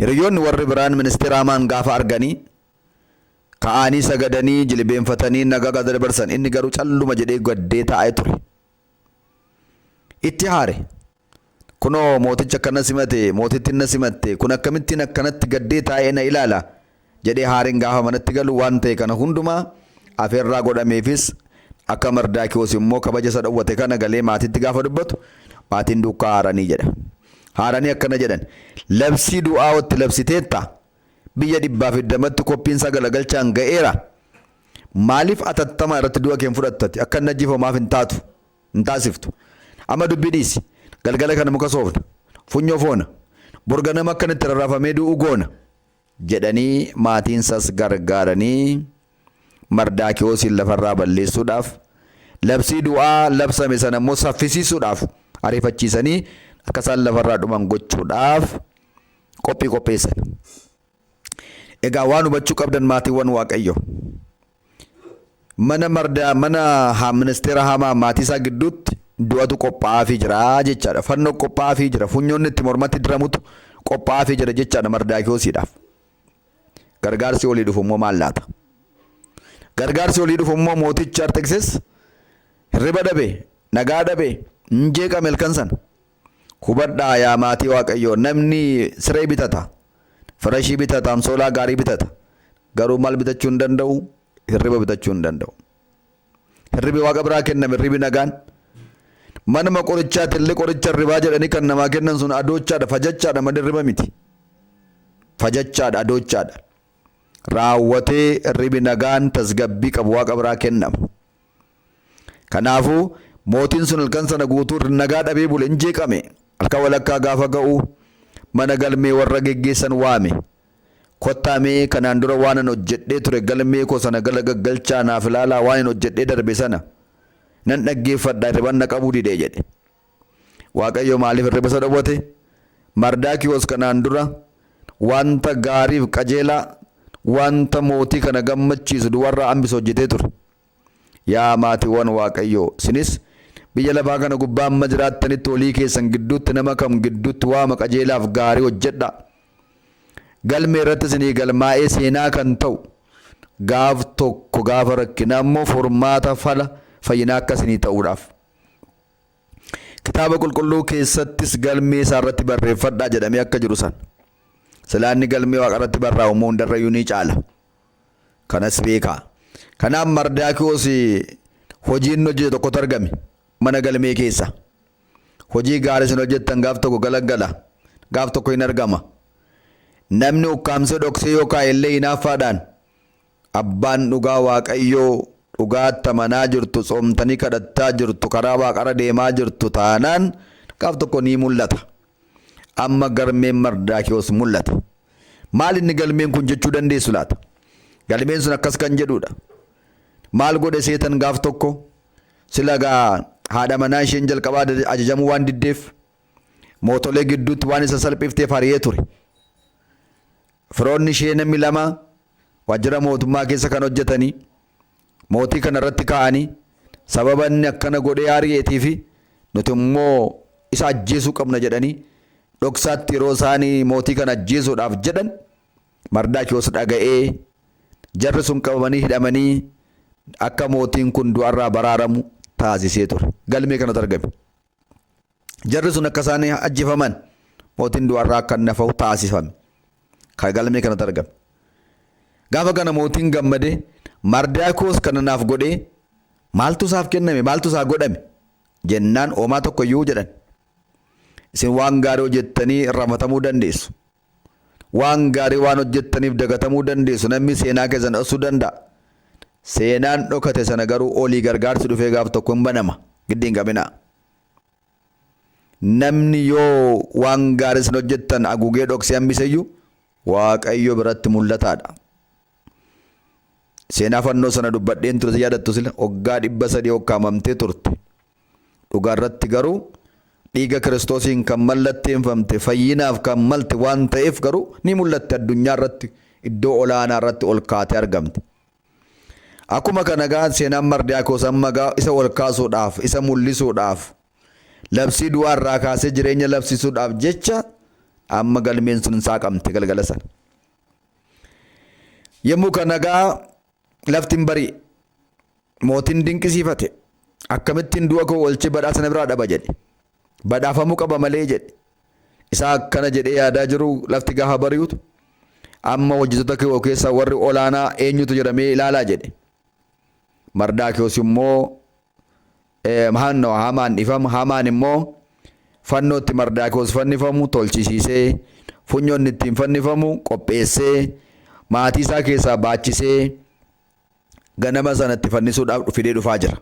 Hiriyyoonni warri biraan Ministir Amaan gaafa arganii ka'aanii sagadanii jilibeenfatanii nagaa gaafa dabarsan inni garuu calluma jedhee gaddee taa'ee ture. Itti haare. Kunoo mootichi akkana simate, mootittiin na simatte, kun akkamittiin akkanatti gaddee taa'ee na ilaala? jedhee Haariin gaafa manatti galu waan ta'e kana hundumaa afeerraa godhameefis akka Mardaakiyoos immoo kabaja isa dhowwate kana galee maatiitti gaafa dubbatu maatiin duukkaa haaranii jedha. Haaranii akkana jedhan labsii du'aa otti labsiteetta biyya dhibbaaf iddamatti koppiin isaa galagalchaan ga'eera maaliif atattamaa irratti du'a keen fudhattati akka inni ajjeefamu maaf hin taatu hin taasiftu amma dubbii dhiisi galgala kana muka soofna funyoo foona borganama akka inni itti rarraafamee du'u goona. jedhanii maatiinsas gargaaranii Mardaakiwoosiin lafarraa balleessuudhaaf, labsii du'aa labsame sana immoo saffisiisuudhaaf ariifachiisanii akka isaan lafarraa dhuman gochuudhaaf qophii qopheessan. Egaa waan hubachuu qabdan maatiiwwan Waaqayyoo. mana marda mana ha- ministeera hamaa maatii isaa gidduutti du'atu qophaa'aafii jira jechaadha. Fannoo qophaa'aafii jira. Funyoonni itti mormatti diramutu qophaa'aafii jira jechaadha Mardaakiyoosiidhaaf. Gargaarsi olii dhufu immoo maal laata? Gargaarsi olii dhufu immoo mootichi Arxeksis hirriba dhabe, nagaa dhabe, hin jeeqame halkan sana. Hubadhaa yaa maatii waaqayyoo namni siree bitata firashii bitata amsoolaa gaarii bitata garuu maal bitachuu hin danda'u hirriba bitachuu hin danda'u hirribi waaqa biraa kenname hirribi nagaan manuma qorichaati illee qoricha hirribaa jedhanii kan namaa kennan sun adoochaadha fajachaadha malee hirriba miti fajachaadha adoochaadha raawwatee hirribi nagaan tasgabbii qabu waaqa biraa kennama. Kanaafuu, mootiin sun halkan sana guutuu nagaa dhabee bule, in jeeqame. Halkan walakkaa gaafa ga'u mana galmee warra geggeessan waame. Kottaa mee kanaan dura waanan hojjedhee ture galmee koo sana gala gaggalchaa naaf ilaalaa waanin hojjedhee darbe sana nan dhaggeeffadha hirriban na qabuu dide jedhe. Waaqayyo maaliif hirriba isa dhowwate? Mardaakiyoos kanaan dura wanta gaariif qajeelaa wanta mootii kana gammachiisu duwarraa hambise hojjetee ture. Yaa maatiwwan Waaqayyoo, sinis biyya lafaa kana gubbaa amma jiraattanitti walii keessan gidduutti nama kam gidduutti waama qajeelaaf gaarii hojjedhaa. Galmee irratti isinii galmaa'ee seenaa kan ta'u, gaaf tokko gaafa rakkinaa immoo furmaata fala fayyinaa akka isinii ta'uudhaaf. Kitaaba qulqulluu keessattis galmee isaa irratti barreeffadhaa jedhamee akka jiru sana. Silaa inni galmee waaqa irratti barraa'u immoo hundarrayyuu ni caala. Kanas beekaa. Kanaaf Mardaakiwos hojii inni hojjete tokkotu argame mana galmee keessa. Hojii gaarii isin hojjettan gaaf tokko galaggala, gaaf tokko hin argama. Namni ukkaamsee dhoksee yoo kaa'e illee hinaaffaadhaan abbaan dhugaa Waaqayyoo dhugaatti amanaa jirtu, tsoomtanii kadhattaa jirtu, karaa waaqarra deemaa jirtu taanaan gaaf tokko ni mul'ata. Amma galmeen Mardaakiyoos mul'ate. Maal inni galmeen kun jechuu dandeessu laata? Galmeen sun akkas kan jedhuudha. Maal godhe seetan gaaf tokko sila gaa haadha manaa isheen jalqabaa ajajamuu waan diddeef mootolee gidduutti waan isa salphifteef hariyee ture. Firoonni ishee namni lama waajjira mootummaa keessa kan hojjetanii mootii kana irratti kaa'anii sababa inni akkana godhee aari'eetii fi nuti immoo isa ajjeesuu qabna jedhanii dhoksaatti yeroo isaan mootii kana ajjeesuudhaaf jedhan Mardaakiyoos dhaga'ee jarri sun qabamanii hidhamanii akka mootiin kun du'arraa baraaramu taasisee ture. Galmee kanatu argame. jarri sun akka isaan ajjefaman mootiin du'arraa akka inni hafahu taasifame. Kan galmee kanatti argame. Gaafa kana mootiin gammadee Mardaakoos kana naaf godhee maaltu isaaf kenname maaltu isaa godhame jennaan oomaa tokko iyyuu jedhan. Isin waan gaarii hojjettanii irraanfatamuu dandeessu. Waan gaarii waan hojjettaniif dagatamuu dandeessu. Namni seenaa keessan dhoksuu danda'a. Seenaan dhokate sana garuu olii gargaarsi dhufee gaaf tokko hin banama. Giddi hin qabinaa. Namni yoo waan gaarii isin hojjettan agugee dhoksee hambiseyyuu Waaqayyo biratti mul'ataadha. Seenaa fannoo sana dubbadheen ture si yaadattu sila waggaa dhibba sadii hokkaamamtee turte. Dhugaa irratti garuu dhiiga Kiristoosiin kan mallatteenfamte, fayyinaaf kan malte waan ta'eef garuu ni mul'atti addunyaa irratti iddoo olaanaa irratti ol kaatee argamte. Akkuma kana egaa seenaan Mardiyaakoos amma egaa isa ol kaasuudhaaf, isa mul'isuudhaaf, labsii du'aa irraa kaasee jireenya labsiisuudhaaf jecha amma galmeen sun saaqamte galgala sana. Yommuu kana egaa lafti hin bari'e. Mootiin dinqisiifate. Akkamittiin du'a koo oolchee badhaasa na biraa dhaba jedhe. Badhaafamuu qaba malee jedhe. Isaa akkana jedhee yaadaa jiru lafti gaafa bari'utu amma hojjettoota koo keessaa warri olaanaa eenyutu jedhamee ilaalaa jedhe. Mardaakiyoos immoo hanno hamaan dhifama hamaan immoo fannootti mardaakiyoos fannifamu tolchisiisee funyoonni ittiin fannifamu qopheessee maatii isaa keessaa baachisee ganama sanatti fannisuudhaaf fidee dhufaa jira.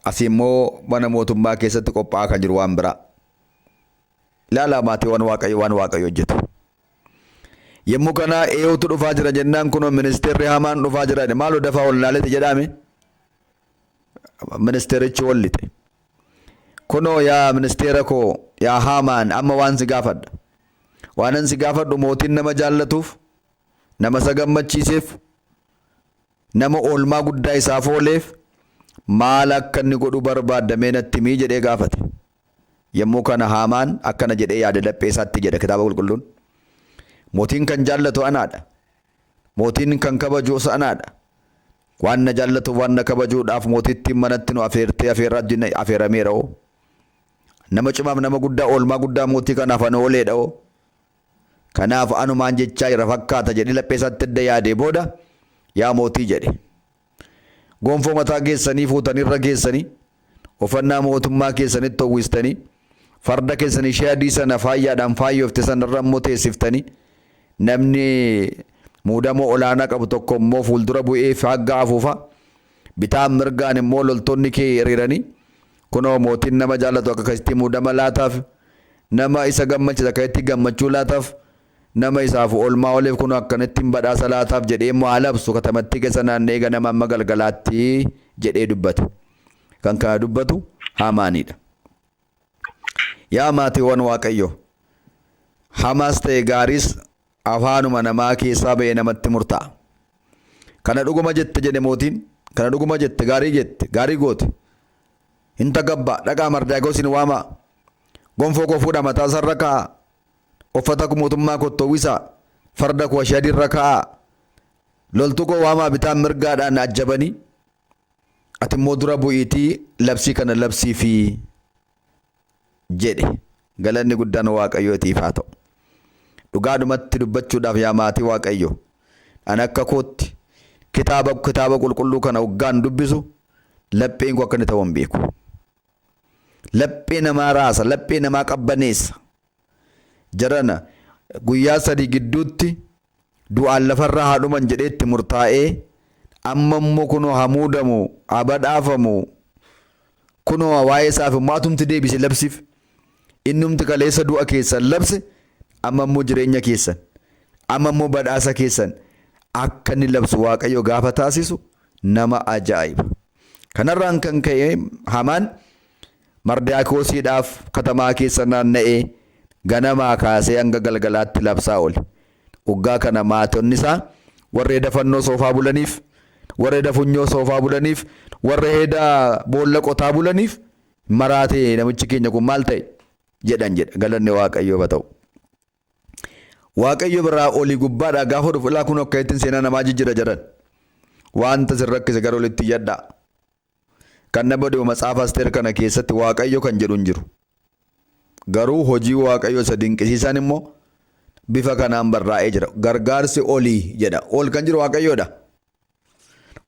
Asi immoo mana mootummaa keessatti qophaa'aa kan jiru waan biraa. Ilaalaa maatiiwwan Waaqayyo waan Waaqayyo hojjetu. Yommuu kana eeyootu dhufaa jira jennaan kunoo ministeerri hamaan dhufaa jira jedhe maaloo dafaa ol naalete jedhaame ministeerichi ol lixe. Kunoo yaa ministeera koo yaa haamaan amma waan si gaafadha. Waanan si gaafadhu mootiin nama jaallatuuf nama isa gammachiiseef nama oolmaa guddaa isaaf ooleef maal akka inni godhu barbaadda mee natti himii jedhee gaafate. Yommuu kana Haamaan akkana jedhee yaade laphee isaatti jedha Kitaaba Qulqulluun. Mootiin kan jaallatu anaadha. Mootiin kan kabajuus anaadha. Waan na jaallatuuf waan na kabajuudhaaf mootittiin manatti nu afeertee afeerraa wajjin afeerameera hoo. Nama cimaaf nama guddaa oolmaa guddaa mootii kanaaf an ooleedha hoo. Kanaaf anumaan jechaa jira fakkaata jedhee laphee isaatti edda yaadee booda yaa mootii jedhe. Gonfoo mataa keessanii fuutanii irra keessanii, uffannaa mootummaa keessanitti uwwistanii, farda keessan ishee adii sana faayyaadhaan faayyoofte sana irra immoo teessiftanii, namni muudama olaanaa qabu tokko immoo fuuldura bu'ee faaggaa afuufa, bitaan mirgaan immoo loltoonni kee hiriiranii, kunoo mootiin nama jaallatu akka akkasitti muudama laataaf, nama isa gammachiisa akka itti gammachuu laataaf, Nama isaaf oolmaa ooleef kunoo akkanittin badhaasa laataaf jedhee immoo haa labsu, katamattii keessa naanna'ee ganama hamma galgalaatti jedhee dubbate. Kan kana dubbatu Haamaanii dha. Yaa maatiiwwan Waaqayyoo! Hamaas ta'e gaariis afaanuma namaa keessaa ba'ee namatti murtaa'a. Kana dhuguma jette jedhe mootiin, kana dhuguma jette, gaarii jette, gaarii goote. Hin takabbaa, dhaqaa Mardaakiyoosiin waamaa, gonfoo koo fuudhaa mataa isaarra kaa'aa, Uffata ko mootummaa kootti uwwisaa, farda koo ashii adii irra kaa'aa, loltuu koo waamaa bitaa mirgaadhaan ajjabanii, ati immoo dura bu'iitii labsii kana labsiifi jedhe. Galanni guddaan Waaqayyootiif haa ta'u. Dhugaadhumatti dubbachuudhaaf yaa maatii Waaqayyoo, ani akka kootti kitaaba kitaaba qulqulluu kana oggaan dubbisu lapheen koo akka inni ta'u hin beeku. Laphee namaa raasa, laphee namaa qabbaneessa. Jarana guyyaa sadii gidduutti du'aan lafarra haa dhuman jedhee itti murtaa'ee amma immoo kunoo haa muudamu, haa badhaafamu, kunoo waa'ee isaaf immoo atumti deebise labsiif. Innumti kaleessa du'a keessan labse amma immoo jireenya keessan, amma immoo badhaasa keessan akka inni labsu Waaqayyo gaafa taasisu nama ajaa'iba. Kanarraan kan ka'e Hamaan Mardaakiyoosiidhaaf katamaa keessa naanna'ee ganamaa kaasee hanga galgalaatti labsaa oole. Oggaa kana maatonni isaa warra heda fannoo soofaa bulaniif, warra heda funyoo soofaa bulaniif, warra heda boolla qotaa bulaniif maraatee namichi keenya kun maal ta'e jedhan jedha galanni waaqayyoof haa ta'u. Waaqayyo biraa olii gubbaadhaa gaafa dhufu ilaa kunoo akka ittiin seenaa namaa jijjira jedhan. Wanta sin rakkise gara olitti iyyadhaa. Kan na badi'u matsaafa Asteer kana keessatti Waaqayyo kan jedhu hin jiru. Garuu hojii Waaqayyo isa dinqisiisaan immoo bifa kanaan barraa'ee jira. Gargaarsi olii jedha. Ol kan jiru Waaqayyoodha.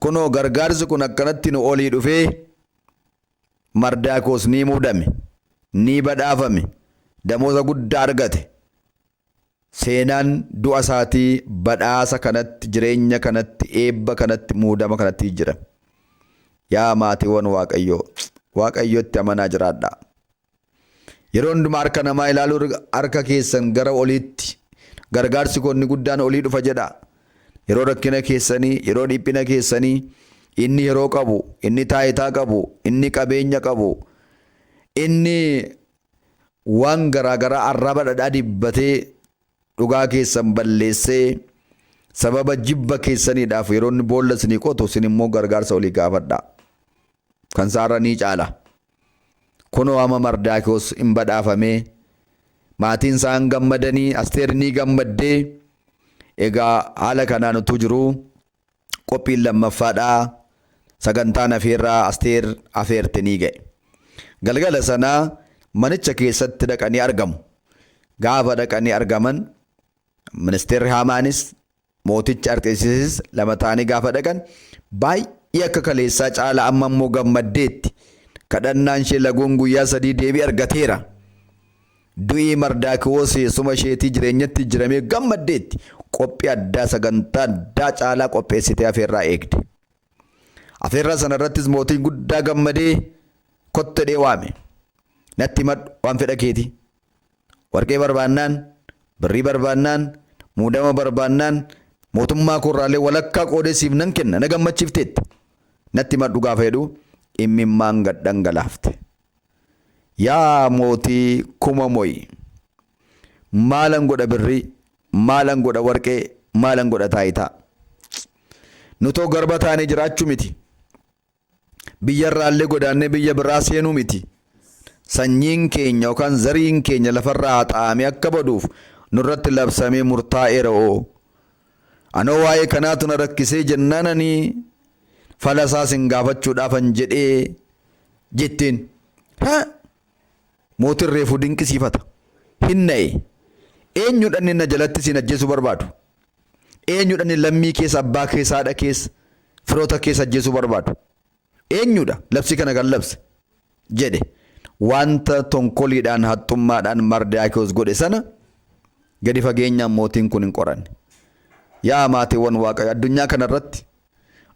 Kunoo gargaarsi kun akkanatti nu olii dhufee Mardaakiwos ni muudame, ni badhaafame, damooza guddaa argate. Seenaan du'a isaatii badhaasa kanatti, jireenya kanatti, eebba kanatti, muudama kanatti jijjirame. Yaa maatiiwwan Waaqayyoo, Waaqayyotti amanaa jiraadhaa. Yeroo hundumaa harka namaa ilaaluu irra harka keessan gara oliitti gargaarsi koo inni guddaan olii dhufa jedhaa. Yeroo rakkina keessanii, yeroo dhiphina keessanii inni yeroo qabu, inni taayitaa qabu, inni qabeenya qabu, inni waan garaa garaa arraba dhadhaa dibbatee dhugaa keessan balleessee sababa jibba keessaniidhaaf yeroo inni boolla isinii qotu isin immoo gargaarsa olii gaafadhaa. Kan isaarra ni caala. Kunoo amma Mardaakiwos in badhaafame, maatiin isaa in gammadanii, Asteer ni gammadde. Egaa haala kanaan utuu jiruu qophiin lammaffaadhaa sagantaan afeerraa Asteer afeerte ni ga'e. Galgala sana manicha keessatti dhaqanii argamu. Gaafa dhaqanii argaman ministeerri Haamaanis Mootichi Arxeesisis lama ta'anii gaafa dhaqan baay'ee akka kaleessaa caala amma immoo gammaddeetti. Kadhannaan ishee laguun guyyaa sadii deebii argateera. Du'ii Mardaakiwoos eessuma isheetii jireenyatti jiramee gammaddeetti. Qophii addaa sagantaa addaa caalaa qopheessitee afeerraa eegde. Afeerraa sana irrattis mootiin guddaa gammadee kottu jedhee waame. Natti himadhu waan fedha keetii. Warqee barbaannaan, birrii barbaannaan, muudama barbaannaan mootummaa koorraallee walakkaa qoodee siif nan kenna na gammachiifteetta. Natti himadhu gaafa jedhu immimmaan gad dhangalaafte. Yaa mootii kuma mo'i! Maalan godha birrii, maalan godha warqee, maalan godha taayitaa? Nutoo garba taanee jiraachuu miti. biyyarraallee godaannee biyya biraa seenuu miti. Sanyiin keenya yookaan zariin keenya lafarraa haxaa'amee akka baduuf nurratti labsamee murtaa'eera oo. Anoo waa'ee kanaatu na rakkisee jennaan ani falasaa sin gaafachuudhaafan jedhee jetteen. Mootin reefu dinqisiifata. Hin na'e. Eenyudha inni na jalatti siin ajjeesuu barbaadu? Eenyudha inni lammii kees, abbaa kees, haadha kees, firoota kees ajjeesuu barbaadu? Eenyudha labsii kana kan labse? jedhe. Wanta tonkoliidhaan, haxxummaadhaan Mardaakiyoos godhe sana gadi fageenyaan mootiin kun hin qoranne. Yaa maatiiwwan Waaqayyo addunyaa kana irratti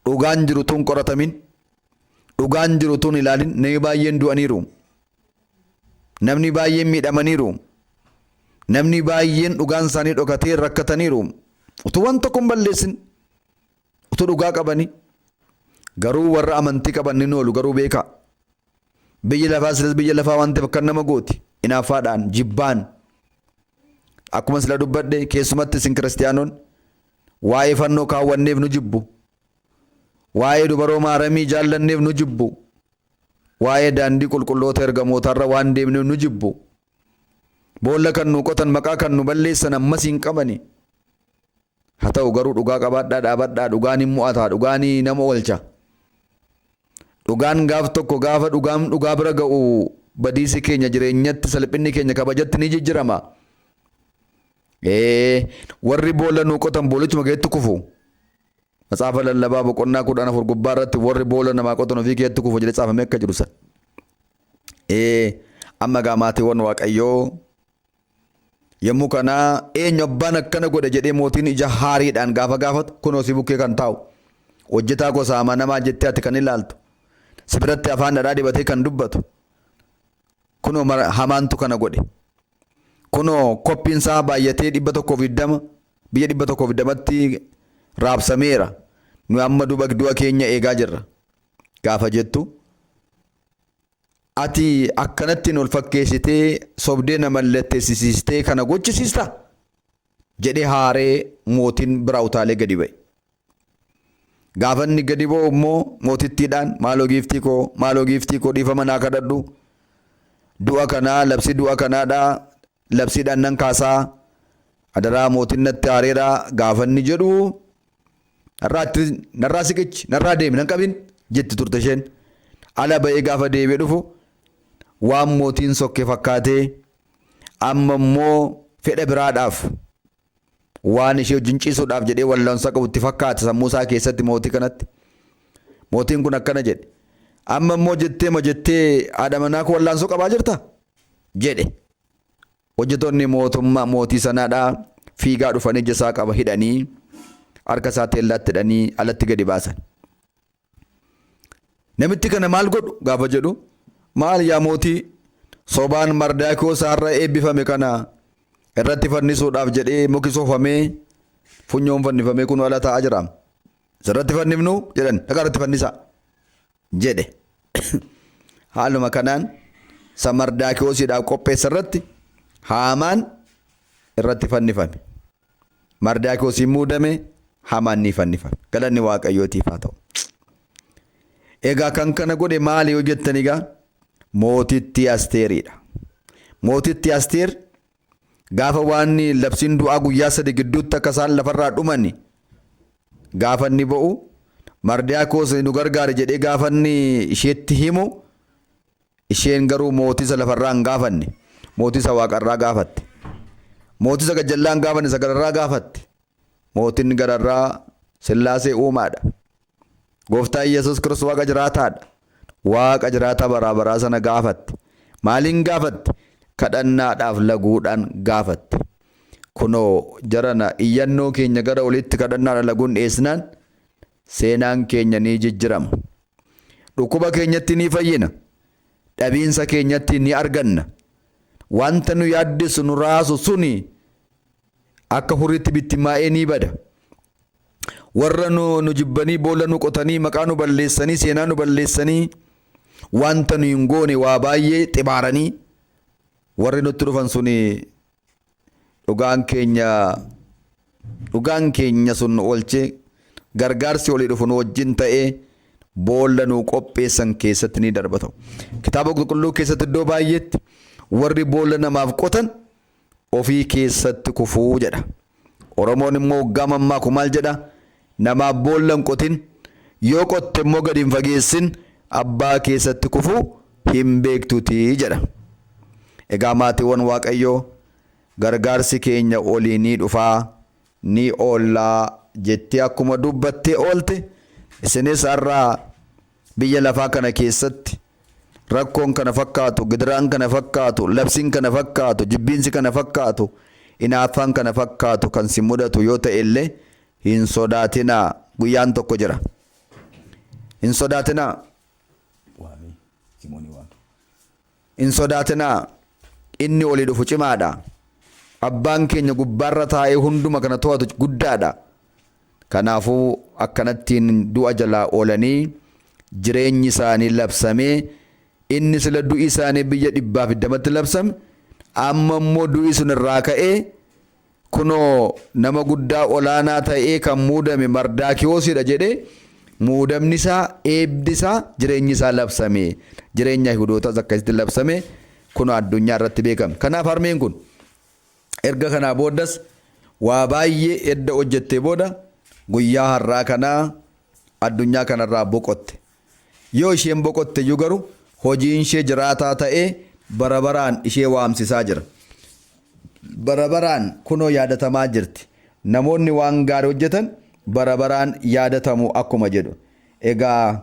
dhugaan jiru utuu hin qoratamin Dhugaan jiru utuu hin ilaalin namni baay'een du'aniiru. Namni baay'een miidhamaniiru. Namni baay'een dhugaan isaanii dhokatee rakkataniiru. Utuu waan tokko hin balleessin utuu dhugaa qabanii garuu warra amantii qaban ni noolu garuu beekaa. Biyyi lafaa silas biyya lafaa waan ta'eef akkan nama gooti. Inaaffaadhaan jibbaan. Akkuma sila dubbadhe keessumatti isin kiristiyaanoon waa'ee fannoo kaawwanneef nu jibbu. Waa'ee dubaroo Maaramii jaallanneef nu jibbu. Waa'ee daandii qulqulloota ergamootaarra waan deemneef nu jibbu. Boolla kan nuu qotan maqaa kan nu balleessan ammas hin qabani. Ha ta'u garuu dhugaa qabaadhaa dhaabadhaa dhugaan hin mu'ataa dhugaani nama olcha. Dhugaan gaaf tokko gaafa dhugaan dhugaa bira ga'u badiisi keenya jireenyatti salphinni keenya kabajatti ni jijjirama. Ee warri boolla nuu qotan boolichuma keessatti kufu. Matsaafa lallabaa boqonnaa kudhan afur gubbaa irratti warri boolla namaa qotan ofii keetti kufu jedhee caafamee akka jiru san. Ee amma gaa maatiiwwan waaqayyoo yommuu kana eenyu abbaan akkana godhe jedhee mootiin ija haariidhaan gaafa gaafatu kunoo si bukkee kan taa'u hojjetaa gosa amanamaa jettee ati kan ilaaltu si biratti afaan dhadhaa dibatee kan dubbatu kunoo mara- hamaantu kana godhe Kunoo koppiin isaa baay'atee 120 biyya 120tti raabsameera. Nuyi amma duba- du'a keenya eegaa jirra. Gaafa jettu ati akkanatti nu fakkeessitee sobdee na mallatteessisiistee kana gochisiista? jedhee haaree mootiin biraa utaalee gadi ba'e. Gaafa inni gadi ba'u immoo mootittiidhaan maaloo giiftii koo maaloo giiftii koo dhiifama naa kadhadhu du'a kanaa labsii du'a kanaadha labsiidhaan nan kaasaa adaraa mootiin natti haareera gaafa inni jedhu narraatti narraa siqichi narraa deemi nan qabin jetti turte isheen ala ba'ee gaafa deebi'ee dhufu waan mootiin sokke fakkaatee amma immoo fedha biraadhaaf waan ishee wajjin ciisuudhaaf jedhee wallaansa qabu itti fakkaata sammuu isaa keessatti mootii kanatti. Mootiin kun akkana jedhe. Amma immoo jettee ma jettee haadha manaa koo wallaansoo qabaa jirta? jedhe. Hojjetoonni mootummaa mootii sanaadhaa fiigaa dhufanii ija isaa qaba hidhanii harka isaa teellaatti hidhanii alatti gadi baasan. Namitti kana maal godhu gaafa jedhu maal yaa mootii sobaan Mardaakiyoos har'a eebbifame kana irratti fannisuudhaaf jedhee muki soofamee funyoon fannifamee kun ala taa'aa jira. Sirratti fannifnu jedhan dhagaa irratti fannisaa jedhe. Haaluma kanaan isa Mardaakiyoosiidhaaf qopheesse irratti haamaan irratti fannifame. Mardaakiyoos in muudame, Hamaan ni fannifame. Galanni Waaqayyootiif haa ta'u. Egaa kan kana godhe maali yoo jettan egaa mootittii Asteeriidha. Mootittii Asteer gaafa waan labsiin du'aa guyyaa sadi gidduutti akka isaan lafarraa dhuman gaafa inni ba'u Mardaakiyoos nu gargaari jedhee gaafa inni isheetti himu Isheen garuu mootisa lafa irraa hin gaafanne, mootisa waaqa irraa gaafatte. Mootisa gajjallaa hin gaafanne isa gararraa gaafatte. Mootiin gararraa Sillaasee uumaadha. Gooftaa Yesus Kiristoos waaqa jiraataadha. Waaqa jiraataa baraa baraa sana gaafatte. Maaliin gaafatte? Kadhannaadhaaf laguudhaan gaafatte. Kunoo jarana iyyannoo keenya gara oliitti kadhannaadhaan laguun dhiyeessinaan Seenaan keenya ni jijjirama. Dhukkuba keenyatti ni fayyina. Dhabiinsa keenyatti ni arganna. Wanta nu yaaddessu nu raasu suni akka hurriitti bittimmaa'ee ni bada. Warra nu, nu jibbanii boolla nu qotanii maqaa nu balleessanii seenaa nu balleessanii wanta nu hin goone waa baay'ee xibaaranii warri nutti dhufan suni Dhugaan keenya Dhugaan keenya sun nu oolche, gargaarsi olii dhufu nu wajjin ta'e, boolla nuu qopheessan keessatti ni darba ta'u. Kitaaba qulqulluu keessatti iddoo baay'eetti warri boolla namaaf qotan ofii keessatti kufuu jedha. Oromoon immoo oggaa mammaaku maal jedha? Namaaf boolla hin qotin, yoo qotte immoo gadi hin fageessin abbaa keessatti kufuu hin beektutii jedha. Egaa maatiiwwan Waaqayyoo gargaarsi keenya olii ni dhufaa, ni oollaa jettee akkuma dubbattee oolte isinis har'a Biyya lafaa kana keessatti rakkoon kana fakkaatu, gidiraan kana fakkaatu, labsiin kana fakkaatu, jibbiinsi kana fakkaatu, inaaffaan kana fakkaatu kan si mudatu yoo ta'e illee hin sodaatinaa guyyaan tokko jira. Hin sodaatinaa. Hin sodaatinaa! Inni olii dhufu cimaa dha. Abbaan keenya gubbaa irra taa'ee hunduma kana to'atu guddaa dha. Kanaafuu, akkanattiin du'a jalaa oolanii jireenyi isaanii labsamee, inni sila du'i isaanii biyya dhibbaa fi digdamatti labsame, amma immoo du'i sun irraa ka'ee, Kunoo, nama guddaa ol aanaa ta'ee kan muudame Mardaakiwoos dha jedhee, muudamni isaa, eebbi isaa, jireenyi isaa labsame. Jireenyi Ayihudootaas akkasitti labsamee kunoo addunyaa irratti beekame. Kanaaf harmeen kun erga kanaa booddas waa baay'ee edda hojjettee booda guyyaa har'aa kana addunyaa kana irraa boqotte. Yoo isheen boqotte iyyuu garuu hojiinshee jiraataa ta'ee bara baraan ishee waamsisaa jira. Bara baraan kunoo yaadatamaa jirti. Namoonni waan gaarii hojjetan bara baraan yaadatamu akkuma jedhu. Egaa.